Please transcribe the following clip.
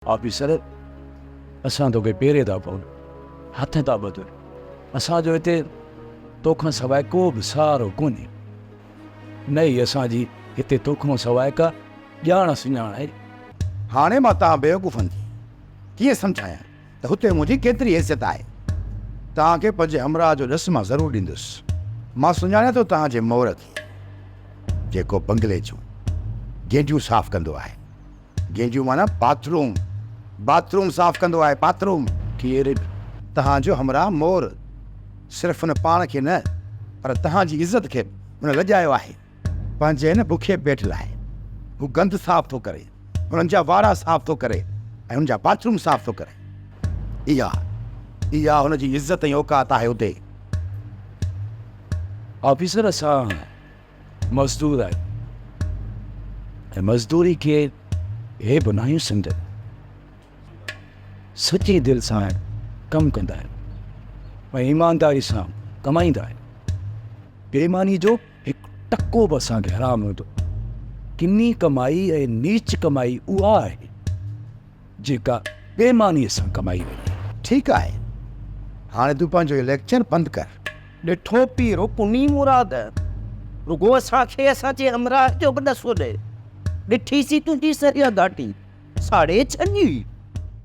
Officer, اسان توکي پيري ٿا پون، هٿ ٿا ٻڌون، اسان جو هتي تو کان سواء ڪو به سهارو ڪونهي، نه ئي اسان جي هتي تو کان سواء ڪا ڄاڻ سڃاڻ آهي. هاڻي مان توهان بيوقوفن کي ڪيئن سمجهايان ته هتي منهنجي ڪيتري حيثيت آهي. توهان کي پنهنجي همراهه جو ڏس مان ضرور ڏيندس. مان سڃاڻيان ٿو توهان جي مور کي، جيڪو بنگلي جون گينڊيون صاف ڪندو آهي. جنهن جون معنيٰ باٿ روم، باٿ روم صاف ڪندو آهي، پاٿروم. ڪير به توهان جو همراهه مور صرف هن پاڻ کي نه پر توهان جي عزت کي به هن لڄايو آهي. پنهنجي هن بکئي پيٽ لاء هو گند صاف ٿو ڪري، هنن جا وارا صاف ٿو ڪري ۽ هنن جا باٿ روم صاف ٿو ڪري. اها اها هن جي عزت ۽ اوقات آهي اتي. آفيسر سان مزدور آهي ۽ مزدوري کي هي بنايون سمجهن سچي دل سان ڪم ڪندا آهن ۽ ايمانداري سان ڪمائيندا آهن بيماني جو هڪ ٽڪو به اسان کي حرام هوندو ڪني ڪمائي ۽ نيچ ڪمائي اها آهي جيڪا بيماني سان ڪمائي وڃي ٺيڪ آهي هاڻي تون پنهنجو اهو ليڪچر بند ڪر. ڏٺو پير ڪونهي مراد، رڳو اسان کي اسان جي همراهه جو به ڏسو ڏي، ڏٺي سي تنهنجي سريان گهاٽي ساڙهي ڇڏي.